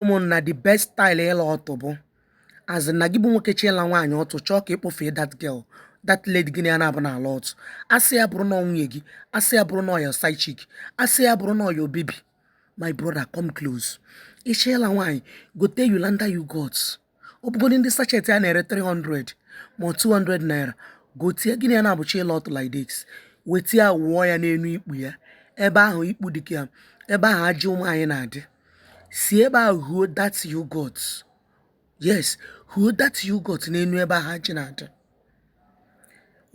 ụmụnna the best style ịla ọtụ bụ as in na gị bụ nwoke chọ ịla nwaanyị ọtụ chọọ ka ịkpọfee that girl that lady gị na ya naabọ na-ala ọtụ asị ya bụrụ na ọ nwunye gị asị ya bụrụ na ọ your side chick asị ya bụrụ na ọ your baby my brother come close ị chọ ịla nwaanyị gote Hollandia yogurt ọ bụgodị ndị sachet a na-ere 300 ma 200 naira gote ya gị na ya naabọ chọ ịla ọtụ like this weta ya wụọ ya n'elu ikpu ya ebe ahụ ikpu dị ka ebe ahụ ajị ụmụ nwaanyị na-adị si ebe ahụ wụọ that yogurt yes wụọ that yogurt n'elu ebe ahụ ajị na-adị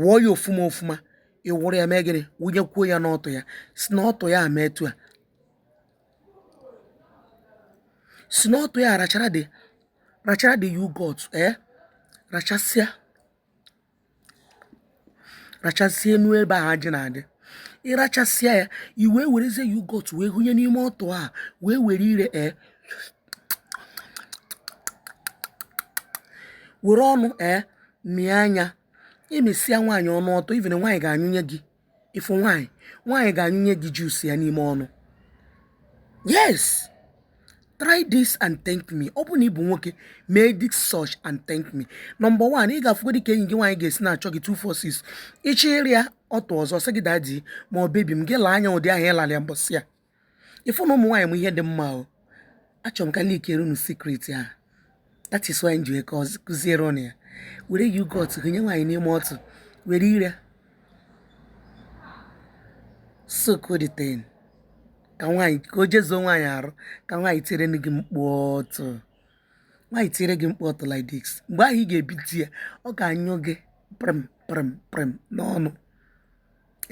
wụọ ya ofuma ofuma ị wụrụ ya mee gịnị wụnyekwuo ya n'ọtụ ya si n'ọtụ ya mee etu a si n'ọtụ ya rachara the rachara the yogurt ee eh? rachasịa rachasịa enu ebe ahụ ajị na-adị ị rachasịa ya i wee werezie yogurt wee wụnye n'ime ọtụ a wee were ire ee eh? were ọnụ ee eh? mịa nya i mesịa nwaanyị ọnụ ọtụ ịfụ na nwaanyị ga-anyụnye gị ịfụ nwaanyị nwaanyị ga-anyụnye gị juice ya n'ime ọnụ yes try this and thank me ọ bụ na ị bụ nwoke mee this search and thank me number one ị ga-afụgodị ka enyi gị nwaanyị ga-esi na-achọ gị 246 ị chọ ịra ya ọtụ ọzọ sị gị daddy ma ọ baby m gị laa nya ụdị ahụ ị lalị ya mbọsị a ịfụ na ụmụ nwaanyị ma ihe dị mma o achọrọ m ka leakere unu secret a that is why m ji wee kụziere unu ya were yogurt wụnye nwaanyị n'ime ọtụ were ire suck the thing ka nwaanyị ka o jezuo nwaanyị arụ ka nwaanyị tiere gị mkpu ọtụ nwaanyị tiere gị mkpu ọtụ like this mgbe ahụ ị ga-ebi di ya ọ ga-anyụ gị prim prim prim n'ọnụ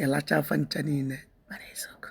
ị lachaa fa ncha niile mara eziokwu